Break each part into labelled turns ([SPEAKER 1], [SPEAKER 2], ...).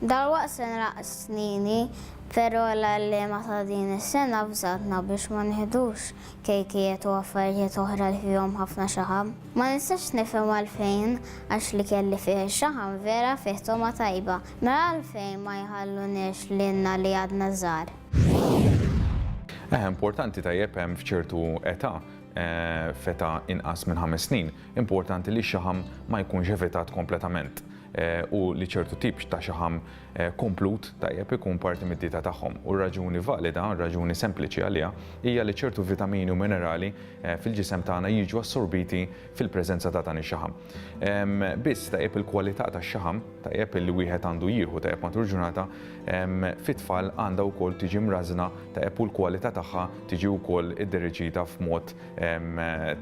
[SPEAKER 1] Dalwaqt se nraqqs Nini, però l-għalliema ta' din is-sena avżatna biex ma nieħdux kejkijiet u affarijiet oħra li fihom ħafna xaħam. Ma nistax nifhem għalfejn, għax l-ikel li fih ix-xaħam vera fih togħma tajba. Mela għalfejn ma jħalluniex lilna li għadna żgħar? Eħe, importanti tajjeb hemm f'ċertu età, f'età inqas minn ħames snin, importanti li x-xaħam ma jkunx evitat kompletament. u li ċertu tip ta' xaħam komplut tajjeb ikun parti mid-dieta tagħhom. U raġuni valida, raġuni sempliċi għaliha, hija li ċertu vitamini u minerali fil-ġisem tagħna jiġu assorbiti fil-preżenza ta' dan ix-xaħam. Biss tajjeb il-kwalità tax-xaħam, tajjeb li wieħed għandu jieħu tajjeb matul ġurnata, fit-tfal għandha wkoll tiġi mrażżna tajjeb u l-kwalità tagħha tiġi wkoll iddereġita f'mod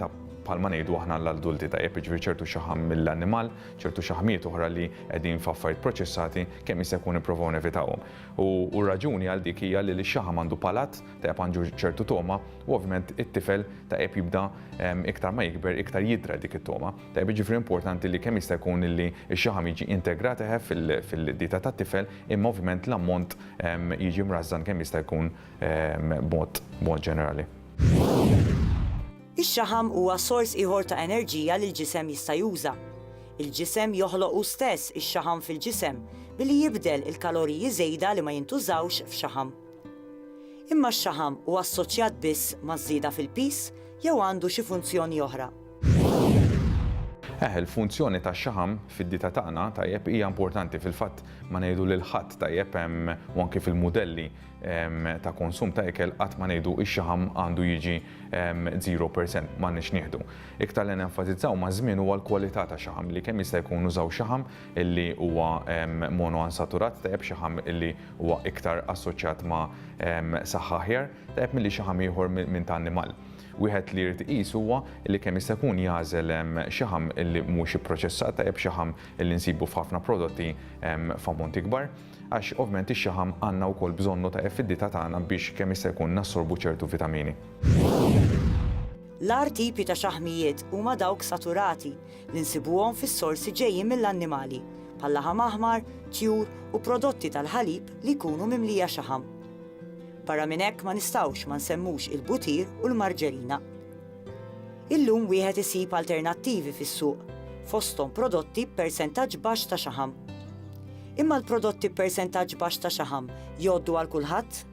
[SPEAKER 1] ta' bħalma ngħidu aħna l-adulti tajjeb, jiġifieri ċertu xaħam mill-annimal, ċertu xaħmiet oħra li qegħdin f'affarijiet proċessati kemm jista' jkun nipprovaw nevitawhom. U r-raġuni għal dik hija li x-xaħam għandu palat, tajjeb għandu ċertu togħma, u ovvjament it-tifel tajjeb jibda iktar ma jikber iktar jidhra dik it-togħma. Tajjeb jiġifieri importanti li kemm jista' jkun illi x-xaħam jiġi integrat eħe fil-dieta tat-tifel imma ovvjament l-ammont jiġi mrażżan kemm jista' jkun b'mod ġenerali. Ix-xaħam huwa sors ieħor ta' enerġija li l-ġisem jista' juża. Il-ġisem joħloq hu stess ix-xaħam fil-ġisem billi jibdel il-kaloriji żejda li ma jintużawx f'xaħam. Imma x-xaħam huwa assoċjat biss maż-żieda fil-piż jew għandu xi funzjoni oħra? Eħ, il-funzjoni tax-xaħam fid-dieta tagħna, tajjeb, hija importanti. Fil-fatt, ma ngħidu lil ħadd, tajjeb, u anki fil-mudelli, ta' konsum ta' ikel qatt ma ngħidu x-xaħam għandu jiġi 0%, m'għandniex nieħdu. Iktar li nenfasizzaw maż-żmien huwa l-kwalità ta' xaħam li kemm jista' jkun nużaw xaħam li huwa monoansaturat tajjeb, xaħam li huwa iktar assoċjat ma' saħħa aħjar tajjeb milli xaħam ieħor minn ta' annimal. Wieħed li jrid iqis huwa li kemm jista' jkun jagħżel xaħam li mhux ipproċessat tajjeb, xaħam li nsibu f'ħafna prodotti f'ammonti kbar. Għax ovvjament ix-xaħam għandna wkoll bżonnu ta' fid-dieta tagħna biex kemm jista' jkun nassorbu ċertu vitamini. L-agħar tipi ta' xaħmijiet huma dawk saturati li nsibuhom fis-sorsi ġejjin mill-annimali, bħal-laħam aħmar, tjur u prodotti tal-ħalib li jkunu mimlija xaħam. Barra minn hekk ma nistgħux ma nsemmux il-butir u l-marġerina. Illum wieħed isib alternattivi fis-suq, fosthom prodotti b'persentaġġ baxx ta' xaħam. Imma l-prodotti b'persentaġġ baxx ta' xaħam jgħoddu għal kulħadd?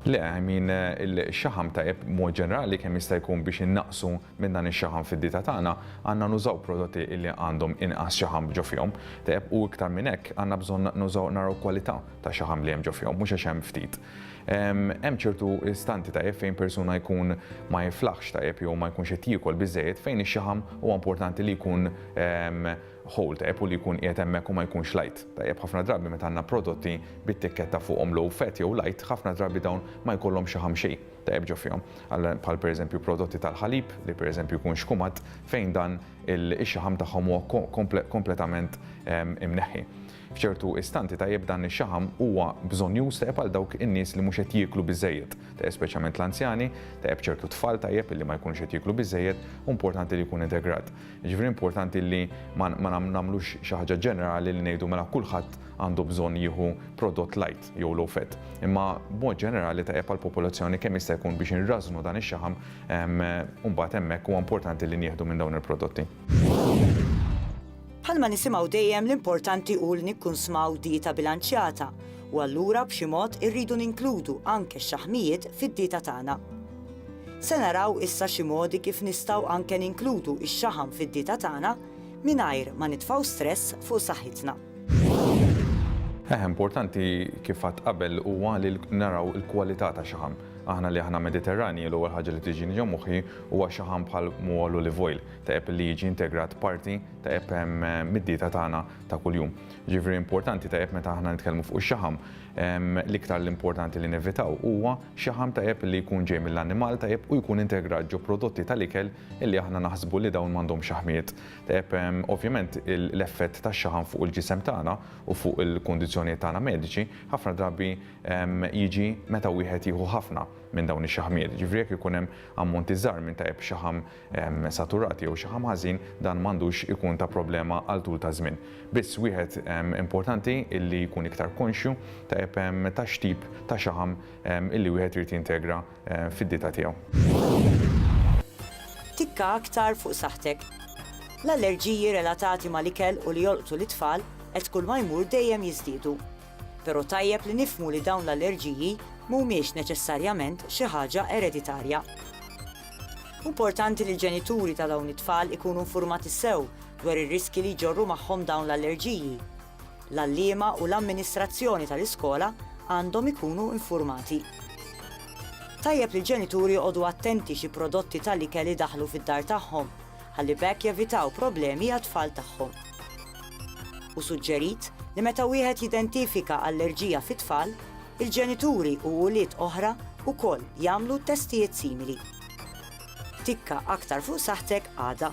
[SPEAKER 1] Le, I mean, il-xaħam tajjeb b'mod ġenerali kemm jista' jkun biex innaqqsu minn dan ix-xaħam fid-dieta tagħna, għandna nużaw prodotti li għandhom inqas xaħam ġo fihom, tajjeb, u iktar minn hekk għandna bżonn nużaw naraw kwalità ta' xaħam li hemm ġo fihom, mhux għax hemm ftit. Hemm ċertu istanti tajjeb fejn persuna jkun ma jiflaħx tajjeb jew ma jkunx qed jiekol biżżejjed fejn ix-xaħam huwa importanti li jkun ħol tajjeb hu li jkun qiegħed hemmhekk u ma jkunx light. Tajjeb ħafna drabi meta għandna prodotti bit-tikketta fuqhom low fat jew light, ħafna drabi dawn ma jkollhomx xi ħam xejn tajjeb ġo fihom. Bħal pereżempju prodotti tal-ħalib li pereżempju jkun xkumat fejn dan ix-xaħam tagħhom huwa kompletament imneħħi. F'ċertu istanti tajjeb dan ix-xaħam huwa bżonnjuż tajjeb għal dawk in-nies li mhux qed jieklu biżżejjed, tajjeb speċjalment l-anzjani, tajjeb ċertu tfal tajjeb li ma jkunux qed jieklu biżżejjed u importanti li jkun integrat. Jiġifieri importanti li ma nagħmlux xi ħaġa ġenerali li ngħidu mela kulħadd għandu bżonn jieħu prodott light jew low fat. Imma b'mod ġenerali tajjeb għall-popolazzjoni kemm jista' jkun biex inrażżnu dan ix-xaħam u mbagħad hemmhekk huwa importanti li nieħdu minn dawn il-prodotti. Bħalma nisimgħu dejjem l-importanti hu li nikkunsmaw dieta bilanċjata u allura b'xi mod irridu ninkludu anke x-xaħmijiet fid-dieta tagħna. Se naraw issa xi modi kif nistgħu anke ninkludu x-xaħam fid-dieta tagħna mingħajr ma nitfgħu stress fuq saħħitna. Eħe, importanti kif għadt qabel huwa li naraw il-kwalità ta' xaħam. Aħna li aħna Mediterranji, l-ewwel ħaġa li tiġini ġo moħħi huwa xaħam bħal mhol olive oil, ta' epp li jiġi integrat parti ta' epp mid-dieta tagħna ta' kuljum. Ġifieri importanti ta' epp meta aħna nitkellmu fuq ix-xaħam, l-iktar l-importanti li nevitaw huwa Xaħam ta' għeb li jkun ġej mill-annimal ta' għeb u jkun integrat ġo prodotti tal-ikel li aħna naħsbu li dawn m'għandhomx xaħmiet ta' għeb. Ovvjament l-effett tax-xaħam fuq il-ġisem tagħna u fuq il-kundizzjonijiet tagħna mediċi ħafna drabi jiġi meta wieħed jieħu ħafna minn dawn ix-xaħmiet. Jiġifieri jekk ikun hemm ammonti żgħar minn ta' għeb xaħam saturat jew xi ħam ħażin, dan m'għandux ikun ta' problema għal tul ta' żmien. Biss wieħed importanti illi jkun iktar konxju tajjeb ta' x'tip ta' xaħam illi wieħed irid jintegra fid-dieta tiegħu. Tikka aktar fuq saħħtek. L-allerġiji relatati mal-ikel u li jolqtu lit-tfal qed kull ma jmur dejjem jiżdiedu. Però tajjeb li nifhmu li dawn l-allerġiji mhumiex neċessarjament xi ħaġa ereditarja. Importanti li l-ġenituri ta' dawn it-tfal ikunu nfurmati sew dwar ir-riskji li jġorru magħhom dawn l-allerġiji. L-għalliema u l-amministrazzjoni tal-iskola għandhom ikunu nfurmati. Tajjeb li l-ġenituri joqogħdu attenti xi prodotti tal-ikel idaħħlu fid-dar tagħhom, ħalli b'hekk jevitaw problemi għat-tfal tagħhom. Hu suġġerit li meta wieħed jidentifika allerġija fit-tfal, Il-ġenituri u ulied oħra wkoll jagħmlu testijiet simili. Tikka aktar fuq saħħtek għada.